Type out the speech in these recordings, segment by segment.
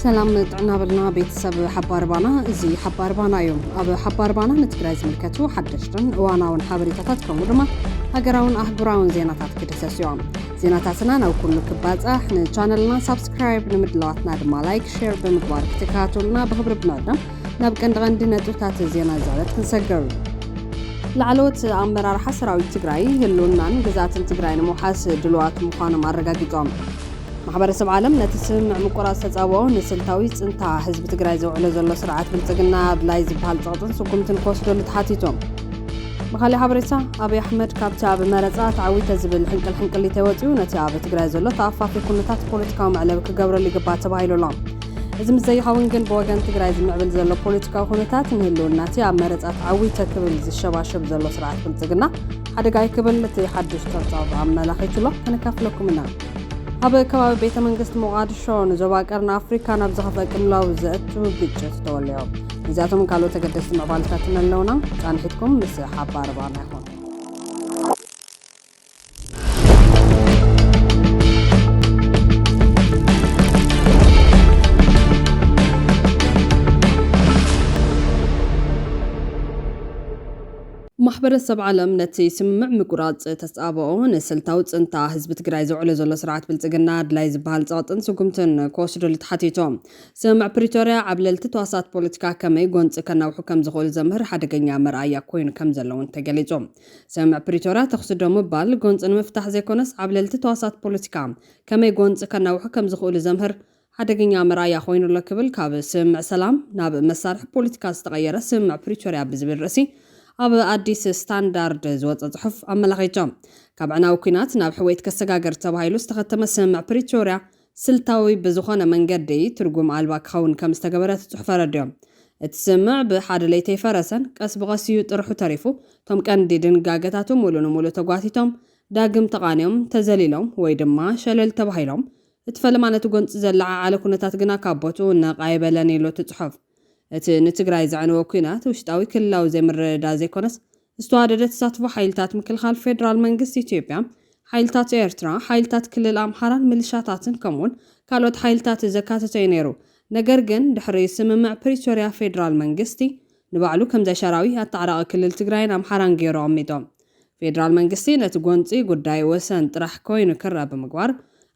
ሰላም ጥዕና በልና ቤተሰብ ሓባር ባና እዚ ሓባር ባና እዩ ኣብ ሓባር ባና ንትግራይ ዝምልከቱ ሓደሽትን እዋናውን ሓበሬታታት ከምኡ ድማ ሃገራውን ኣህጉራውን ዜናታት ክድሰስ እዮም ዜናታትና ናብ ኩሉ ክባፃሕ ንቻነልና ሳብስክራይብ ንምድለዋትና ድማ ላይክ ሼር ብምግባር ክትከታተሉና ብክብሪ ብመቕደም ናብ ቀንዲ ቀንዲ ነጥብታት ዜና ዛረት ክንሰግር ላዕለዎት ኣመራርሓ ሰራዊት ትግራይ ህልውናን ግዛትን ትግራይ ንምውሓስ ድልዋት ምዃኖም ኣረጋጊጦም። ማሕበረሰብ ዓለም ነቲ ስምምዕ ምቁራፅ ተፃብኦ ንስልታዊ ፅንታ ህዝቢ ትግራይ ዘውዕሎ ዘሎ ስርዓት ብልፅግና ኣድላይ ዝበሃል ፀቕጥን ስጉምትን ክወስደሉ ተሓቲቶም። ብካሊእ ሓበሬታ ኣብይ ኣሕመድ ካብቲ ኣብ መረፃ ተዓዊተ ዝብል ሕንቅል ሕንቅሊተይ ወፂኡ ነቲ ኣብ ትግራይ ዘሎ ተኣፋፊ ኩነታት ፖለቲካዊ መዕለቢ ክገብረሉ ይግባእ ተባሂሉ ኣሎ። እዚ ምስ ዘይኸውን ግን ብወገን ትግራይ ዝምዕብል ዘሎ ፖለቲካዊ ኩነታት ንህልውና እቲ ኣብ መረፃት ዓዊተ ክብል ዝሸባሸብ ዘሎ ስርዓት ብልፅግና ሓደጋ እዩ ክብል እቲ ሓዱሽ ፀብፃብ ኣመላኺቱ ኣሎ ከነካፍለኩም ኢና ኣብ ከባቢ ቤተ መንግስቲ ሞቓድሾ ንዞባ ቀርኒ ኣፍሪካ ናብ ዝኸፍአ ቅልውላው ዘእቱ ግጭት ተወልዮ እዚኣቶም ካልኦት ተገደስቲ ምዕባለታትን ኣለውና ፃንሒትኩም ምስ ሓባር ባና ይኹን ማሕበረሰብ ዓለም ነቲ ስምምዕ ምቁራፅ ተፃብኦ ንስልታዊ ፅንታ ህዝቢ ትግራይ ዘውዕሎ ዘሎ ስርዓት ብልፅግና ኣድላይ ዝበሃል ፀቕጥን ስጉምትን ክወስደሉ ተሓቲቶ። ስምምዕ ፕሪቶርያ ዓብለልቲ ተዋሳእቲ ፖለቲካ ከመይ ጎንፂ ከናውሑ ከምዝኽእሉ ዘምህር ሓደገኛ መርኣያ ኮይኑ ከምዘሎ እውን ተገሊፁ። ሰምዕ ፕሪቶርያ ተኹሲ ደው ምባል ጎንፂ ንምፍታሕ ዘይኮነስ ዓብለልቲ ተዋሳእቲ ፖለቲካ ከመይ ጎንፂ ከናውሑ ከምዝኽእሉ ዘምህር ሓደገኛ መርኣያ ኮይኑ ኣሎ ክብል ካብ ስምምዕ ሰላም ናብ መሳርሒ ፖለቲካ ዝተቐየረ ስምምዕ ፕሪቶርያ ብዝብል ርእሲ ኣብ ኣዲስ ስታንዳርድ ዝወፀ ፅሑፍ ኣመላኺቱ። ካብ ዕናዊ ኲናት ናብ ሕውየት ከሰጋግር ተባሂሉ ዝተኸተመ ስምምዕ ፕሪቶርያ ስልታዊ ብዝኾነ መንገዲ ትርጉም ኣልባ ክኸውን ከም ዝተገበረ እቲ ጽሑፍ ኣረዲኦም። እቲ ስምምዕ ብሓደ ለይቲ ኣይፈረሰን፣ ቀስ ብቐስ እዩ ጥርሑ ተሪፉ፣ እቶም ቀንዲ ድንጋገታቱ ምሉእ ንምሉእ ተጓቲቶም፣ ዳግም ተቓንዮም፣ ተዘሊሎም፣ ወይ ድማ ሸለል ተባሂሎም፣ እቲ ፈለማ ነቲ ጎንጺ ዘለዓዓለ ኩነታት ግና ካብ ቦትኡ ነቕ ኣይበለን ኢሉ እቲ ጽሑፍ። እቲ ንትግራይ ዘዕነወ ኲናት ውሽጣዊ ክልላዊ ዘይምርድዳእ ዘይኮነስ፣ ዝተዋደደ ተሳትፎ ሓይልታት ምክልኻል ፌደራል መንግስቲ ኢትዮጵያ፣ ሓይልታት ኤርትራ፣ ሓይልታት ክልል ኣምሓራን ምልሻታትን ከምኡ'ውን ካልኦት ሓይልታት ዘካተተ'ዩ ነይሩ። ነገር ግን ድሕሪ ስምምዕ ፕሪቶርያ ፌደራል መንግስቲ ንባዕሉ ከም ዘይሻራዊ ኣታዓራቒ ክልል ትግራይን ኣምሓራን ገይሩ ኣቕሚጦ። ፌደራል መንግስቲ ነቲ ጎንጺ ጉዳይ ወሰን ጥራሕ ኮይኑ ክረኣ ብምግባር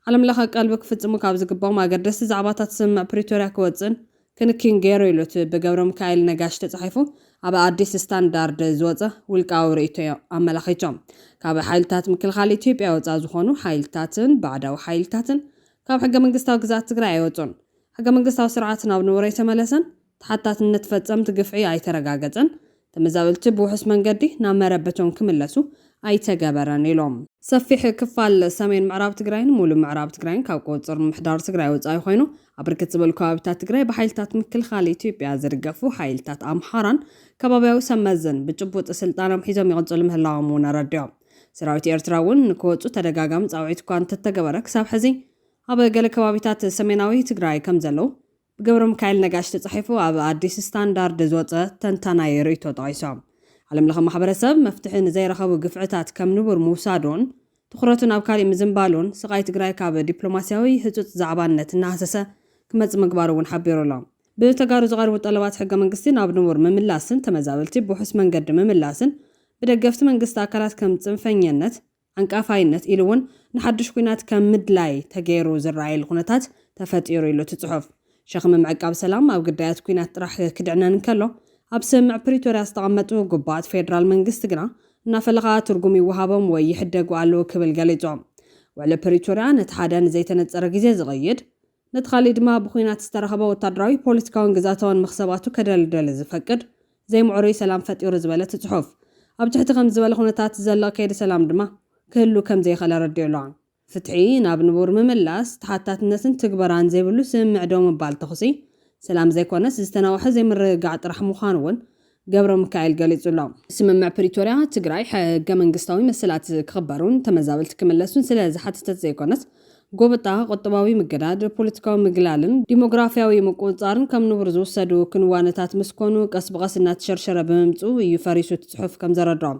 ዓለምለኸ ቀልቢ ክፍጽሙ ካብ ዝግብኦም ኣገደስቲ ዛዕባታት ስምምዕ ፕሪቶርያ ክወጽእን ክንኪን ገይሩ ኢሉ እቲ ብገብረምካኤል ነጋሽ ተጻሒፉ ኣብ ኣዲስ ስታንዳርድ ዝወጸ ውልቃዊ ርእይቶዮ ኣመላኺቶ። ካብ ሓይልታት ምክልኻል ኢትዮጵያ ወጻኢ ዝኾኑ ሓይልታትን ባዕዳዊ ሓይልታትን ካብ ሕገ መንግስታዊ ግዝኣት ትግራይ ኣይወጹን፣ ሕገ መንግስታዊ ስርዓት ናብ ንቡረይተመለሰን፣ ተሓታትነት ፈጸምቲ ግፍዒ ኣይተረጋገጸን፣ ተመዛበልቲ ብውሑስ መንገዲ ናብ መረበቶም ክምለሱ ኣይተገበረን ኢሎም። ሰፊሕ ክፋል ሰሜን ምዕራብ ትግራይን ሙሉእ ምዕራብ ትግራይን ካብ ቁፅፅር ምምሕዳር ትግራይ ወፃኢ ኾይኑ ኣብ ብርክት ዝበሉ ከባቢታት ትግራይ ብሓይልታት ምክልኻል ኢትዮጵያ ዝድገፉ ሓይልታት ኣምሓራን ከባቢያዊ ሰብ መዝን ብጭቡጥ ስልጣኖም ሒዞም ይቕፅሉ ምህላዎም እውን ኣረዲኦም። ሰራዊት ኤርትራ እውን ንክወፁ ተደጋጋሚ ፃውዒት እኳ እንተተገበረ ክሳብ ሕዚ ኣብ ገለ ከባቢታት ሰሜናዊ ትግራይ ከምዘለዉ ብገብረሚካኤል ነጋሽ ተጻሒፉ ኣብ ኣዲስ ስታንዳርድ ዝወጸ ተንታናይ ርእይቶ ጠቒሶም። ዓለምለኸ ማሕበረሰብ መፍትሒ ንዘይረኸቡ ግፍዕታት ከም ንቡር ምውሳዱን ትኹረቱ ናብ ካሊእ ምዝንባሉን ስቓይ ትግራይ ካብ ዲፕሎማሲያዊ ህጹጽ ዛዕባነት እናሃሰሰ ክመጽእ ምግባሩ እውን ሓቢሩ ኣሎ። ብተጋሩ ዝቐርቡ ጠለባት ሕገመንግስቲ ናብ ንቡር ምምላስን ተመዛበልቲ ብውሑስ መንገዲ ምምላስን ብደገፍቲ መንግስቲ ኣካላት ከም ጽንፈኘነት፣ ዓንቃፋይነት ኢሉ እውን ንሓዱሽ ኲናት ከም ምድላይ ተገይሩ ዝረኣየሉ ኩነታት ተፈጢሩ ይብሉ እቲ ፅሑፍ። ሸኽሚ ምዕቃብ ሰላም ኣብ ግዳያት ኲናት ጥራሕ ክድዕነን እንከሎ ኣብ ስምምዕ ፕሪቶርያ ዝተቐመጡ ግቡኣት ፌዴራል መንግስቲ ግና እናፈለኻ ትርጉም ይወሃቦም ወይ ይሕደጉ ኣለዉ ክብል ገሊፁ። ውዕሊ ፕሪቶርያ ነቲ ሓደ ንዘይተነፀረ ግዜ ዝቕይድ፣ ነቲ ካሊእ ድማ ብኹናት ዝተረኸበ ወታደራዊ፣ ፖለቲካዊን ግዝኣታዊን መኽሰባቱ ከደልድል ዝፈቅድ ዘይምዕሩይ ሰላም ፈጢሩ ዝበለ እቲ ጽሑፍ፣ ኣብ ትሕቲ ከምዚ ዝበለ ኩነታት ዝዘልቕ ከይዲ ሰላም ድማ ክህሉ ከም ዘይኽእል ኣረዲኡ ኣሎ። ፍትሒ ናብ ንቡር ምምላስ፣ ተሓታትነትን ትግበራን ዘይብሉ ስምምዕ ደው ምባል ተኹሲ ሰላም ዘይኮነስ ዝተናውሐ ዘይምርግጋዕ ጥራሕ ምዃኑ እውን ገብረምካኤል ገሊጹ'ሎ። ስምምዕ ፕሪቶርያ፣ ትግራይ ሕገመንግስታዊ መሰላት ክኽበሩን ተመዛበልቲ ክምለሱን ስለ ዝሓተተት ዘይኮነስ፣ ጎበጣ፣ ቁጠባዊ ምግዳድ፣ ፖለቲካዊ ምግላልን ዲሞግራፍያዊ ምቁጽጻርን ከም ንቡር ዝውሰዱ ክንዋነታት ምስ ኮኑ፣ ቀስ ብቐስ እናተሸርሸረ ብምምጽኡ እዩ ፈሪሱ እቲ ጽሑፍ ከም ዘረድኦ።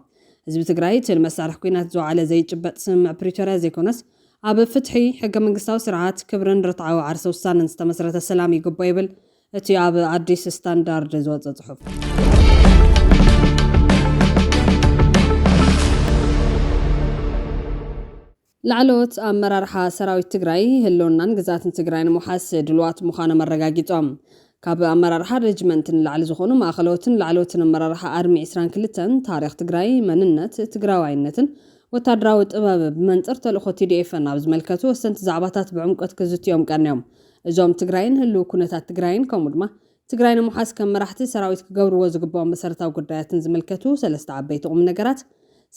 ህዝቢ ትግራይ እቲ ንመሳርሒ ኲናት ዝወዓለ ዘይጭበጥ ስምምዕ ፕሪቶርያ ዘይኮነስ፣ ኣብ ፍትሒ፣ ሕገመንግስታዊ ስርዓት፣ ክብርን ርትዓዊ ዓርሰ ውሳነን ዝተመስረተ ሰላም ይግብኦ ይብል እቲ ኣብ ኣዲስ ስታንዳርድ ዝወፀ ፅሑፍ ላዕለዎት ኣመራርሓ ሰራዊት ትግራይ ህልውናን ግዛትን ትግራይ ንምውሓስ ድልዋት ምዃኖም ኣረጋጊፆም። ካብ ኣመራርሓ ሬጅመንት ንላዕሊ ዝኾኑ ማእኸለዎትን ላዕለዎትን ኣመራርሓ ኣርሚ 22ን ታሪኽ ትግራይ፣ መንነት፣ ትግራዋይነትን ወታደራዊ ጥበብ ብመንፅር ተልእኾ ቲዲኤፍን ኣብ ዝመልከቱ ወሰንቲ ዛዕባታት ብዕምቆት ክዝትዮም ቀንዮም። እዞም ትግራይን ህልው ኩነታት ትግራይን ከምኡ ድማ ትግራይ ንምሓዝ ከም መራሕቲ ሰራዊት ክገብርዎ ዝግብኦም መሰረታዊ ጉዳያትን ዝምልከቱ ሰለስተ ዓበይቲ ቁምነገራት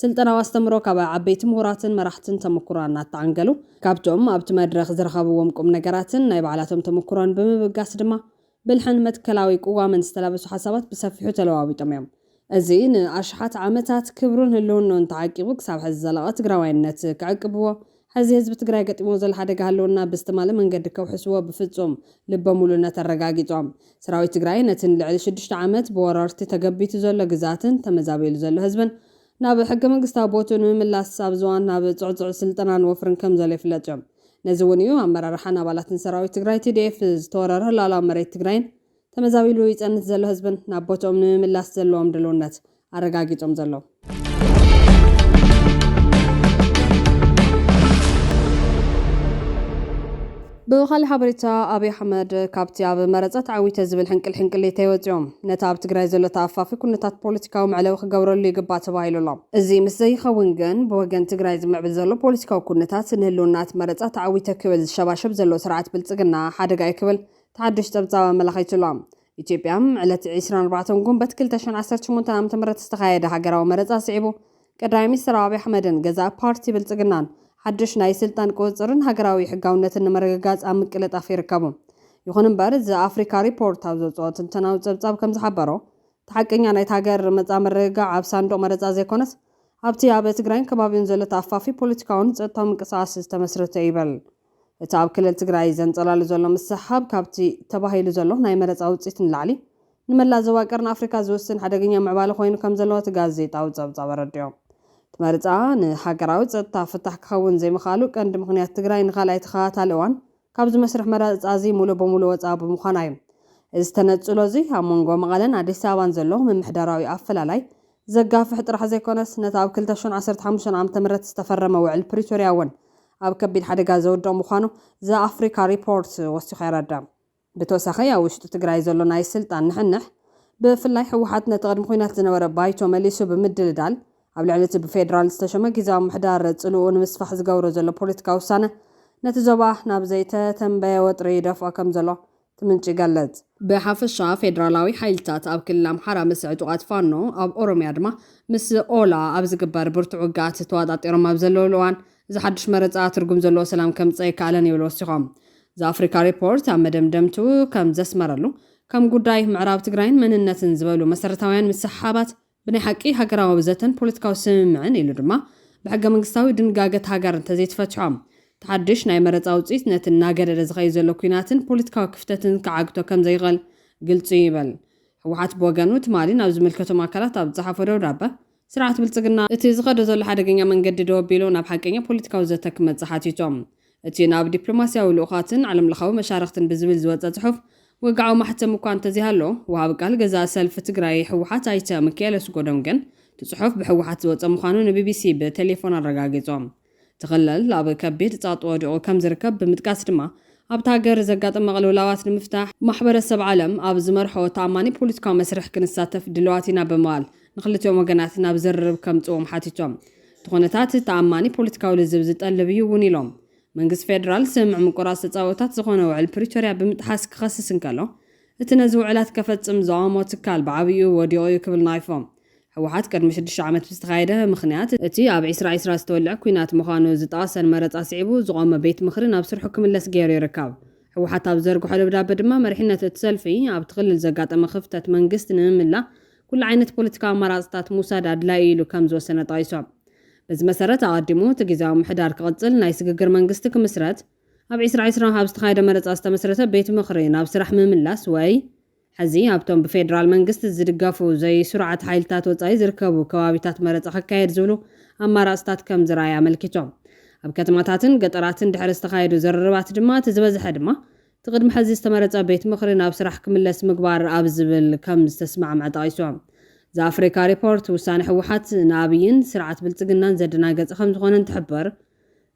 ስልጠናዊ ኣስተምህሮ ካብ ዓበይቲ ምሁራትን መራሕትን ተመኩሮ ኣናተዓንገሉ ካብቶም ኣብቲ መድረኽ ዝረኸብዎም ቁምነገራትን ናይ ባዕላቶም ተመኩሮን ብምብጋስ ድማ ብልሕን መትከላዊ ቅዋምን ዝተላበሱ ሓሳባት ብሰፊሑ ተለዋዊጦም እዮም። እዚ ንኣሽሓት ዓመታት ክብሩን ህልውንኡን ተዓቂቡ ክሳብ ሐዚ ዝዘለቐ ትግራዋይነት ክዕቅብዎ፣ ሐዚ ህዝቢ ትግራይ ገጢምዎ ዘሎ ሓደጋ ህልውና ብዝተማልእ መንገዲ ከውሕስዎ ብፍፁም ልበ ሙሉእነት ኣረጋጊፆም። ሰራዊት ትግራይ ነቲ ንልዕሊ ሽዱሽተ ዓመት ብወረርቲ ተገቢቱ ዘሎ ግዝኣትን ተመዛቢሉ ዘሎ ህዝብን ናብ ሕገመንግስታዊ ቦትኡ ንምምላስ ኣብ ዝዋን ናብ ፅዕፁዕ ስልጠናን ወፍርን ከምዘሎ ይፍለጥ እዮም። ነዚ እውን እዩ ኣመራርሓን ኣባላትን ሰራዊት ትግራይ፣ TDF፣ ዝተወረረ ሉኣላዊ መሬት ትግራይን ተመዛቢሉ ይጸንት ዘሎ ህዝብን ናብ ቦትኦም ንምምላስ ዘለዎም ድልውነት ኣረጋጊጾም ዘለዉ። ብኻልእ ሓበሬታ ኣብይ ኣሕመድ ካብቲ ኣብ መረፃ ተዓዊተ ዝብል ሕንቅል ሕንቅሊተይ ወፂኦም ነቲ ኣብ ትግራይ ዘሎ ተኣፋፊ ኩነታት ፖለቲካዊ መዕለዊ ክገብረሉ ይግባእ ተባሂሉ ኣሎ። እዚ ምስ ዘይኸውን ግን ብወገን ትግራይ ዝምዕብል ዘሎ ፖለቲካዊ ኩነታት ንህልውና እቲ መረፃ ተዓዊተ ክብል ዝሸባሸብ ዘሎ ስርዓት ብልፅግና ሓደጋ እዩ ክብል እቲ ሓዱሽ ጸብጻብ ኣመላኺቱ'ሎ። ኢትዮጵያ፣ ዕለት ዕስራን ኣርባዕተን ጉንበት ክልተ ሽሕን ዓሰርተ ሸሞንተን ዓመተ ምህረት ዝተኻየደ ሃገራዊ መረጻ ስዒቡ፣ ቀዳማይ ሚኒስተር ኣብይ ኣሕመድን ገዛኢ ፓርቲ ብልጽግናን፣ ሓዱሽ ናይ ስልጣን ቁጽጽርን ሃገራዊ ሕጋውነትን ንምርግጋጽ ኣብ ምቅልጣፍ ይርከቡ። ይኹን'ምበር፣ ዘ ኣፍሪካ ሪፖርት ኣብ ዘውጽኦ ትንተናዊ ጸብጻብ ከም ዝሓበሮ፣ እቲ ሓቀኛ ናይታ ሃገር መጻኢ ምርግጋዕ ኣብ ሳንዱቕ መረጻ ዘይኮነስ፣ ኣብቲ ኣብ ትግራይን ከባቢኡን ዘሎ ተኣፋፊ ፖለቲካውን ጸጥታውን ምንቅስቓስ ዝተመስረተ'ዩ ይብል። እቲ ኣብ ክልል ትግራይ ዘንጸላሉ ዘሎ ምስሕሓብ ካብቲ ተባሂሉ ዘሎ ናይ መረጻ ውጽኢት ንላዕሊ ንመላእ ዞባ ቀርኒ ኣፍሪካ ዝውስን ሓደገኛ ምዕባለ ኮይኑ ከምዘሎ እቲ ጋዜጣዊ ጸብጻብ ኣረዲኦ። እቲ መርጻ ንሃገራዊ ጸጥታ ፍታሕ ክኸውን ዘይምኽኣሉ ቀንዲ ምኽንያት ትግራይ ንካልኣይ ተኸታታሊ እዋን ካብዚ መስርሕ መረጻዚ ሙሉእ ብሙሉእ ወጻኢ ብምዃና እዩ። እዚ ተነጽሎዚ ኣብ መንጎ መቐለን ኣዲስ ኣበባን ዘሎ ምምሕዳራዊ ኣፈላላይ ዘጋፍሕ ጥራሕ ዘይኮነስ ነቲ ኣብ ክልተ ሽሕን ዓሰርተ ሓሙሽተን ዓመተ ምህረት ዝተፈረመ ውዕል ፕሪቶርያ እውን ኣብ ከቢድ ሓደጋ ዝውድቕ ምዃኑ ዘ-ኣፍሪካ ሪፖርት ወሲኹ የረድእ። ብተወሳኺ ኣብ ውሽጢ ትግራይ ዘሎ ናይ ስልጣን ንሕንሕ፣ ብፍላይ ህወሓት ነቲ ቅድሚ ኹናት ዝነበረ ባይቶ መሊሱ ብምድልዳል ኣብ ልዕሊ እቲ ብፌደራል ዝተሸመ ግዝያዊ ምሕዳር ፅልእኡ ንምስፋሕ ዝገብሮ ዘሎ ፖለቲካዊ ውሳነ ነቲ ዞባ ናብ ዘይተተንበየ ወጥሪ ይደፍኦ ከምዘሎ እቲ ምንጪ ይገልጽ። ብሓፈሻ ፌደራላዊ ሓይልታት ኣብ ክልል ኣምሓራ ምስ ዕጡቓት ፋኖ፣ ኣብ ኦሮሚያ ድማ ምስ ኦላ ኣብ ዝግበር ብርቱዕ ውግኣት ተዋጣጢሮም ኣብ ዘለዉሉ እዋን፣ እዚ ሓድሽ መረጻ ትርጉም ዘለዎ ሰላም ከምጽእ ኣይከኣለን ይብሉ ወሲኾም። ዘኣፍሪካ ሪፖርት ኣብ መደምደምትኡ ከም ዘስመረሉ፣ ከም ጉዳይ ምዕራብ ትግራይን መንነትን ዝበሉ መሰረታውያን ምስሕሓባት፣ ብናይ ሓቂ ሃገራዊ ዘተን ፖለቲካዊ ስምምዕን ኢሉ ድማ ብሕገ መንግስታዊ ድንጋገት ሃገር እንተዘይተፈቲሖም፣ እቲ ሓድሽ ናይ መረጻ ውጽኢት ነቲ እናገደደ ዝኸይድ ዘሎ ኲናትን ፖለቲካዊ ክፍተትን ክዓግቶ ከምዘይኽእል ግልጺ'ዩ ይብል። ህወሓት ብወገኑ ትማሊ ናብ ዝምልከቶም ኣካላት ኣብ ዝጸሓፎ ደብዳበ፣ ስርዓት ብልጽግና፣ እቲ ዝኸዶ ዘሎ ሓደገኛ መንገዲ ደው ኣቢሉ ናብ ሓቀኛ ፖለቲካዊ ዘተ ክመጽእ ሓቲቱ። እቲ ናብ ዲፕሎማስያዊ ልኡኻትን ዓለምለኻዊ መሻርኽትን ብዝብል ዝወጸ ጽሑፍ፣ ወግዓዊ ማሕተም እኳ እንተዘይሃሎ፣ ወሃቢ ቃል ገዛኢ ሰልፊ ትግራይ ህወሓት ኣይተ ምኪኤል ኣስጎዶም ግን፣ እቲ ጽሑፍ ብህወሓት ዝወጸ ምዃኑ ንቢቢሲ ብቴሌፎን ኣረጋጊጾም። እቲ ክልል ኣብ ከቢድ ጸቕጢ ወዲቑ ከምዝርከብ ብምጥቃስ ድማ፣ ኣብታ ሃገር ዘጋጥም መቕልውላዋት ንምፍታሕ፣ ማሕበረሰብ ዓለም ኣብ ዝመርሖ ተኣማኒ ፖለቲካዊ መስርሕ ክንሳተፍ ድልዋት ኢና ብምባል፣ ንክልቲኦም ወገናት ናብ ዝርርብ ከምፅእዎም ሓቲቶም። እቲ ኩነታት ተኣማኒ ፖለቲካዊ ልዝብ ዝጠልብ እዩ እውን ኢሎም። መንግስቲ ፌዴራል ስምምዕ ምቁራፅ ተፃብኦታት ዝኾነ ውዕል ፕሪቶሪያ ብምጥሓስ ክኸስስ እንከሎ እቲ ነዚ ውዕላት ከፈፅም ዝቐወሞ ትካል ብዓብይኡ ወዲቑ እዩ ክብል ነቒፎም። ህወሓት ቅድሚ ሽዱሽተ ዓመት ብዝተኻየደ ምኽንያት፣ እቲ ኣብ ዒስራ ዒስራ ዝተወልዐ ኲናት ምዃኑ ዝጠቐሰን መረፃ ስዒቡ ዝቖመ ቤት ምኽሪ ናብ ስርሑ ክምለስ ገይሩ ይርከብ። ህወሓት ኣብ ዝዘርግሖ ደብዳበ ድማ መሪሕነት እቲ ሰልፊ ኣብቲ ክልል ዘጋጠመ ክፍተት መንግስቲ ንምምላእ ኩሉ ዓይነት ፖለቲካዊ ኣማራፅታት ምውሳድ ኣድላዪ እዩ ኢሉ ከምዝወሰነ ጠቒሶም። በዚ መሰረት ኣቐዲሙ እቲ ጊዚያዊ ምሕዳር ክቕፅል፣ ናይ ስግግር መንግስቲ ክምስረት፣ ኣብ ዕስራ ዕስራ ኣብ ዝተኻየደ መረፃ ዝተመስረተ ቤት ምኽሪ ናብ ስራሕ ምምላስ ወይ ሐዚ ኣብቶም ብፌዴራል መንግስቲ ዝድገፉ ዘይስሩዓት ሓይልታት ወፃኢ ዝርከቡ ከባቢታት መረፃ ክካየድ ዝብሉ ኣማራፅታት ከምዝርኣየ ኣመልኪቶም። ኣብ ከተማታትን ገጠራትን ድሕሪ ዝተኻየዱ ዝርርባት ድማ እቲ ዝበዝሐ ድማ እቲ ቅድሚ ሕዚ ዝተመረፀ ቤት ምኽሪ ናብ ስራሕ ክምለስ ምግባር ኣብ ዝብል ከም ዝተስማዕምዐ ጠቒሱ። ዘኣፍሪካ ሪፖርት ውሳነ ህወሓት ንኣብይን ስርዓት ብልፅግናን ዘደናገፀ ከም ዝኾነ እንትሕብር፣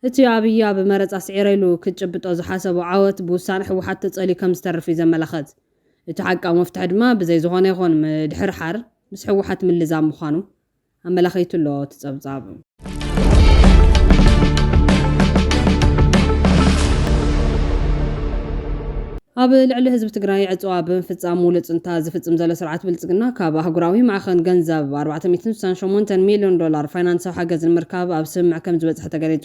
እቲ ኣብይ ኣብ መረፃ ስዒረ ኢሉ ክጭብጦ ዝሓሰቦ ዓወት ብውሳነ ህወሓት ተፀልዩ ከም ዝተርፍ እዩ ዘመላኽት። እቲ ሓቃዊ መፍትሒ ድማ ብዘይ ዝኾነ ይኹን ምድሕርሓር ምስ ህወሓት ምልዛብ ምዃኑ። ኣመላኺቱ ኣሎ እቲ ጸብጻብ። ኣብ ልዕሊ ህዝቢ ትግራይ ዕፅዋ ብምፍፃም ሙሉእ ፅንተት ዝፍፅም ዘሎ ስርዓት ብልፅግና ካብ ኣህጉራዊ ማዕኸን ገንዘብ ኣርባዕተ ሚእትን ስሳን ሸሞንተን ሚሊዮን ዶላር ፋይናንሳዊ ሓገዝ ንምርካብ ኣብ ስምምዕ ከምዝበፅሐ ተገሊፁ።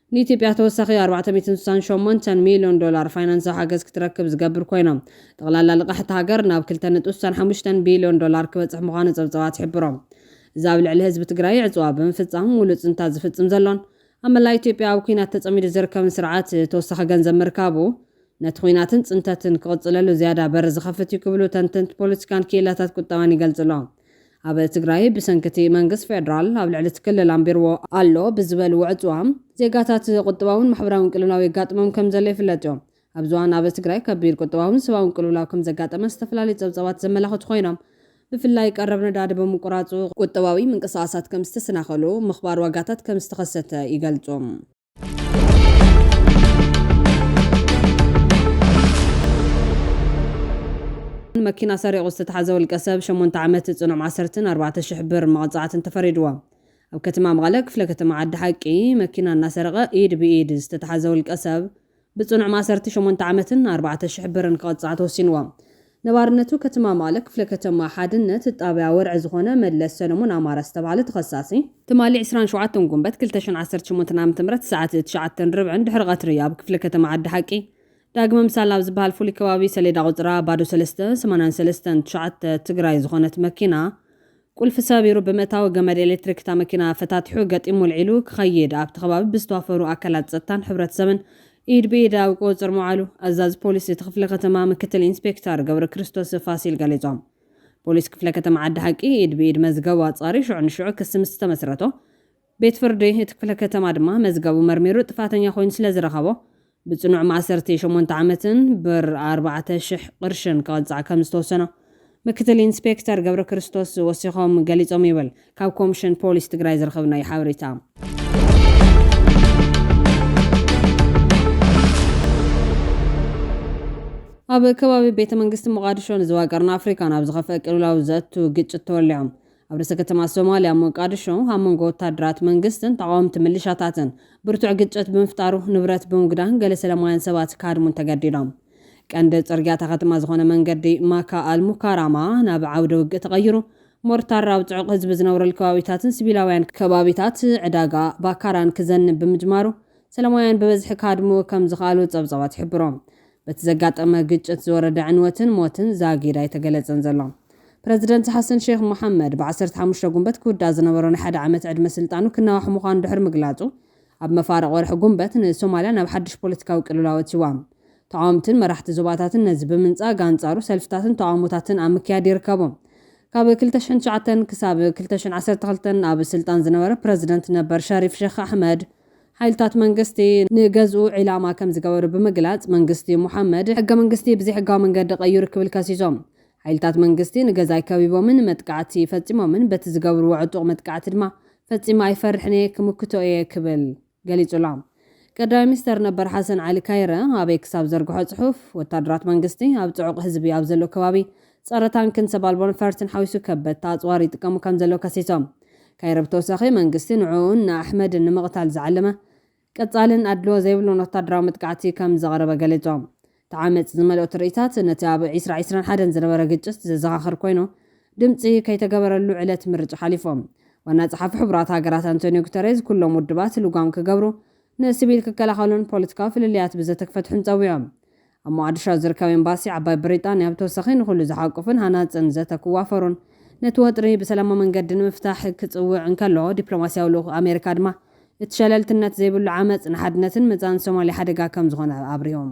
ንኢትዮጵያ ተወሳኺ ኣርባዕተ ሚእትን ስሳን ሸሞንተን ሚልዮን ዶላር ፋይናንሳዊ ሓገዝ ክትረክብ ዝገብር ኮይኑ፣ ጠቕላላ ልቓሕ እታ ሃገር ናብ ክልተ ነጥቢ ስሳን ሓሙሽተን ቢልዮን ዶላር ክበጽሕ ምዃኑ ጸብጻባት ይሕብሩ። እዚ ኣብ ልዕሊ ህዝቢ ትግራይ ዕጽዋ ብምፍጻም ሙሉእ ጽንታት ዝፍጽም ዘሎን ኣብ መላእ ኢትዮጵያ ኣብ ኲናት ተጸሚዱ ዝርከብን ስርዓት ተወሳኺ ገንዘብ ምርካቡ ነቲ ዂናትን ጽንተትን ክቕጽለሉ ዝያዳ በሪ ዝኸፍት እዩ ክብሉ ተንተንቲ ፖለቲካን ክኢላታት ቁጠባን ይገልጹ ኣለው። ኣብ ትግራይ ብሰንኪ'ቲ መንግስት ፌደራል ኣብ ልዕሊ'ቲ ክልል ኣንቢርዎ ኣሎ ብዝበልዎ ዕጽዋ፣ ዜጋታት ቁጠባውን ማሕበራውን ቅልውላው የጋጥሞም ከምዘሎ ይፍለጥዮ። ኣብዚ እዋን ኣብ ትግራይ ከቢድ ቁጠባውን ሰባውን ቅልውላው ከምዘጋጠመ ዝተፈላለዩ ጸብጻባት ዘመላኽቱ ኮይኖም፣ ብፍላይ ቀረብ ነዳዲ ብምቁራጹ ቁጠባዊ ምንቅስቓሳት ከምዝተሰናኸሉ፣ ምኽባር ዋጋታት ከምዝተኸሰተ ይገልጹ። መኪና ሰሪቑ ዝተታሕዘ ውልቀሰብ ሸሞንተ ዓመት ፅኑዕ ማእሰርትን ኣርባዕተ ሽሕ ብር መቕፃዕትን ተፈሪድዎ። ኣብ ከተማ መቐለ ክፍለ ከተማ ዓዲ ሓቂ መኪና እናሰረቐ ኢድ ብኢድ ዝተታሕዘ ውልቀሰብ ብጽኑዕ ማእሰርቲ ሸሞንተ ዓመትን ኣርባዕተ ሽሕ ብርን ክቕጻዕ ተወሲንዎ። ነባርነቱ ከተማ መቐለ ክፍለ ከተማ ሓድነት ጣብያ ወርዒ ዝኾነ መለስ ሰለሙን ኣማረ ዝተብሃለ ተኸሳሲ፣ ትማሊ ዕስራን ሸውዓተን ጉንበት ክልተ ሽሕን ዓሰርተ ሸሞንተን ዓመተ ምህረት ሰዓት ትሽዓተን ርብዕን ድሕሪ ቐትሪ ኣብ ክፍለ ከተማ ዓዲ ሓቂ ዳግመ ምሳል ኣብ ዝበሃል ፍሉይ ከባቢ ሰሌዳ ቑጽራ ባዶ ሰለስተ፣ ሰማንያን ሰለስተን፣ ትሽዓተ፣ ትግራይ ዝኾነት መኪና ቁልፊ ሰቢሩ ብምእታው ገመድ ኤሌክትሪክ እታ መኪና ፈታቲሑ ገጢሙ ኣልዒሉ ክኸይድ ኣብቲ ከባቢ ብዝተዋፈሩ ኣካላት ፀጥታን ሕብረተሰብን ኢድ ብኢድ ኣብ ቁፅፅር ምውዓሉ ኣዛዚ ፖሊስ እቲ ክፍለ ከተማ ምክትል ኢንስፔክተር ገብረክርስቶስ ፋሲል ገሊፆም። ፖሊስ ክፍለ ከተማ ዓዲ ሓቂ ኢድ ብኢድ መዝገቡ ኣፃርዩ ሽዑ ንሽዑ ክሲ ምስ ዝተመስረቶ ቤት ፍርዲ እቲ ክፍለ ከተማ ድማ መዝገቡ መርሚሩ ጥፋተኛ ኮይኑ ስለ ዝረኸቦ ብፅኑዕ ማእሰርቲ ሸሞንተ ዓመትን ብር ኣርባዕተ ሽሕ ቕርሽን ክቕፃዕ ከም ዝተወሰኖ ምክትል ኢንስፔክተር ገብረክርስቶስ ወሲኾም ገሊፆም ይብል ካብ ኮምሽን ፖሊስ ትግራይ ዝረኸብናዮ ሓበሬታ። ኣብ ከባቢ ቤተ መንግስቲ ሞቓድሾ ንዞባ ቀርኒ ኣፍሪካ ናብ ዝኸፍአ ቅልውላው ዘእቱ ግጭት ተወሊዖም ኣብ ርእሰ ከተማ ሶማልያ ሞቃድሾ ኣብ መንጎ ወታደራት መንግስትን ተቓወምቲ ምልሻታትን ብርቱዕ ግጭት ብምፍጣሩ ንብረት ብምጉዳን ገለ ሰለማውያን ሰባት ክሃድሙን ተገዲዶም። ቀንዲ ጽርግያ እታ ከተማ ዝኾነ መንገዲ ማካ ኣል ሙካራማ ናብ ዓውደ ውግእ ተቐይሩ፣ ሞርታር ኣብ ጽዑቕ ህዝቢ ዝነብረሉ ከባቢታትን ሲቪላውያን ከባቢታት ዕዳጋ ባካራን ክዘንብ ብምጅማሩ ሰለማውያን ብበዝሒ ክሃድሙ ከም ዝኸኣሉ ጸብጻባት ይሕብሩ። በቲ ዘጋጠመ ግጭት ዝወረደ ዕንወትን ሞትን ዛጊድ ኣይተገለጸን ዘሎ። ፕረዚደንት ሓሰን ሼኽ መሓመድ፣ ብዓሰርተ ሓሙሽተ ጉንበት ክውዳእ ዝነበሮ ናይ ሓደ ዓመት ዕድመ ስልጣኑ ክናዋሕ ምዃኑ ድሕሪ ምግላጹ፣ ኣብ መፋርቕ ወርሒ ጉንበት ንሶማልያ ናብ ሓድሽ ፖለቲካዊ ቅልውላው ኣእትይዋ። ተቓወምትን መራሕቲ ዞባታትን ነዚ ብምንጻግ ኣንጻሩ ሰልፍታትን ተቓውሞታትን ኣብ ምክያድ ይርከቡ። ካብ ክልተ ሽሕን ትሽዓተን ክሳብ ክልተ ሽሕን ዓሰርተ ክልተን ኣብ ስልጣን ዝነበረ ፕረዚደንት ነበር ሸሪፍ ሼኽ ኣሕመድ፣ ሓይልታት መንግስቲ ንገዝኡ ዒላማ ከምዝገበሩ ብምግላፅ መንግስቲ ሞሓመድ ሕገ መንግስቲ ብዘይሕጋዊ መንገዲ ቀይሩ ክብል ከሲሶም። ሓይልታት መንግስቲ ንገዛይ ከቢቦምን መጥቃዕቲ ፈፂሞምን በቲ ዝገብርዎ ዕጡቕ መጥቃዕቲ ድማ ፈፂመ ኣይፈርሕን እየ ክምክቶ እየ ክብል ገሊፁ ኣሎ። ቀዳማይ ሚኒስተር ነበር ሓሰን ዓሊ ካይረ ኣብ ኤክስ ኣብ ዘርግሖ ፅሑፍ ወታደራት መንግስቲ ኣብ ፅዑቕ ህዝቢ ኣብ ዘሎ ከባቢ ጸረ ታንክን ሰብ ኣልቦ ነፈርትን ሓዊሱ ከበድቲ ኣጽዋር ይጥቀሙ ከምዘለዉ ከሲሶም። ካይሮ ብተወሳኺ መንግስቲ ንዕኡን ንኣሕመድን ንምቕታል ዝዓለመ ቀጻልን ኣድልዎ ዘይብሉን ወታደራዊ መጥቃዕቲ ከምዘቕረበ ገሊጾም። እቲ ዓመጽ ዝመልኦ ትርኢታት ነቲ ኣብ ዕስራ ዕስራን ሓደን ዝነበረ ግጭት ዘዘኻኽር ኮይኑ፣ ድምጺ ከይተገበረሉ ዕለት ምርጫ ሓሊፉ። ዋና ጸሓፊ ሕቡራት ሃገራት ኣንቶንዮ ጉተሬዝ ኩሎም ውድባት ልጓም ክገብሩ፣ ንስቪል ክከላኸሉን ፖለቲካዊ ፍልልያት ብዘተ ክፈትሑን ጸዊዑ። ኣብ ሞቓድሾ ኣብ ዝርከብ ኤምባሲ ዓባይ ብሪጣንያ ብተወሳኺ ንኹሉ ዝሓቁፍን ሃናጽን ዘተ ክዋፈሩን ነቲ ወጥሪ ብሰላማዊ መንገዲ ንምፍታሕ ክጽውዕ እንከሎ ዲፕሎማስያዊ ልኡኽ ኣሜሪካ ድማ እቲ ሸለልትነት ዘይብሉ ዓመጽ ንሓድነትን መጻእን ሶማልያ ሓደጋ ከም ዝኾነ ኣብሪሆም።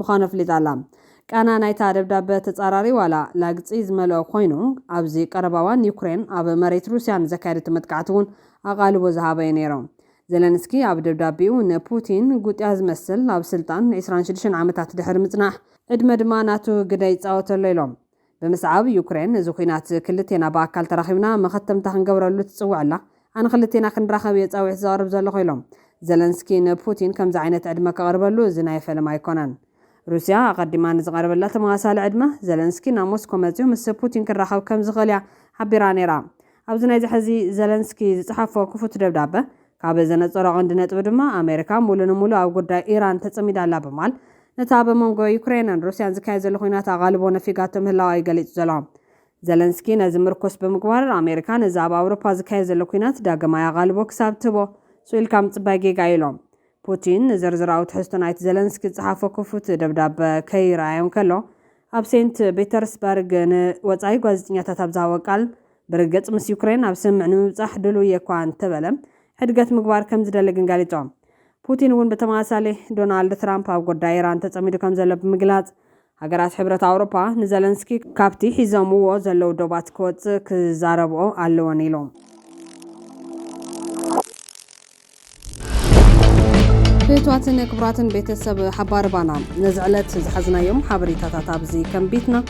ምዃኑ ኣፍሊጣ ኣላ። ቃና ናይታ ደብዳበ ተጻራሪ ዋላ ላግጺ ዝመልኦ ኮይኑ፣ ኣብዚ ቀረባ እዋን ዩክሬን ኣብ መሬት ሩስያ ንዘካየደቶ መጥቃዕቲ'ውን ኣቓልቦ ዝሃበ'ዩ ነይሩ። ዘለንስኪ ኣብ ደብዳቤኡ ንፑቲን ጉጥያ ዝመስል ኣብ ስልጣን ዕስራን ሽዱሽተን ዓመታት ድሕሪ ምጽናሕ ዕድመ ድማ ናቱ ግደ ይጻወት ኣሎ ኢሎም። ብምስዓብ ዩክሬን እዚ ኲናት ክልቴና ብኣካል ተራኺብና መኸተምታ ክንገብረሉ ትጽውዕላ፣ ኣነ ክልቴና ክንራኸብ እየ ጻዊዒት ዘቕርብ ዘለኹ ኢሎም። ዘለንስኪ ንፑቲን ከምዚ ዓይነት ዕድመ ከቕርበሉ እዚ ናይ ፈለማ ኣይኮነን። ሩስያ ኣቐዲማ ንዝቐረበላ ተመሳሳሊ ዕድመ፣ ዘለንስኪ ናብ ሞስኮ መጺኡ ምስ ፑቲን ክራኸብ ከም ዝኽእል እያ ሓቢራ ነይራ። ኣብዚ ናይዚ ሕዚ ዘለንስኪ ዝጸሓፎ ክፉት ደብዳበ ካብ ዘነጸሮ ቀንዲ ነጥቢ ድማ ኣሜሪካ ሙሉ ንሙሉ ኣብ ጉዳይ ኢራን ተጸሚዳ ኣላ ብማል ነቲ ኣብ መንጎ ዩክረይንን ሩስያን ዝካየድ ዘሎ ኲናት ኣቓልቦ ነፊጋቶ ምህላዋ እዩ ገሊጹ ዘሎ። ዘለንስኪ ነዚ ምርኩስ ብምግባር፣ ኣሜሪካ ነዚ ኣብ ኣውሮፓ ዝካየድ ዘሎ ኲናት ዳግማይ ኣቓልቦ ክሳብ እትህቦ ስቕ ኢልካ ምጽባይ ጌጋ እዩ ኢሉ። ፑቲን ንዝርዝራዊ ትሕዝቶ ናይቲ ዘለንስኪ ዝጸሓፎ ክፉት ደብዳበ ከይርኣዮ እንከሎ ኣብ ሴንት ፒተርስበርግ ንወጻኢ ጓዜጠኛታት ኣብ ዝሃቦ ቃል፣ ብርግጽ ምስ ዩክረይን ናብ ስምምዕ ንምብጻሕ ድሉው እየ እኳ እንተበለ፣ ሕድገት ምግባር ከም ዝደሊ ግን ገሊጹ። ፑቲን እውን ብተመሳሳሊ፣ ዶናልድ ትራምፕ ኣብ ጉዳይ ኢራን ተጸሚዱ ከምዘሎ ብምግላጽ፣ ሃገራት ሕብረት ኣውሮፓ ንዘለንስኪ ካብቲ ሒዞምዎ ዘለዉ ዶባት ክወጽእ ክዛረብኦ ኣለወን ኢሉ። ፍትዋትን ክቡራትን ቤተሰብ ሓባር ባና ነዚ ዕለት ዝሓዝናዮም ሓበሬታታት ኣብዚ ከንቢትና።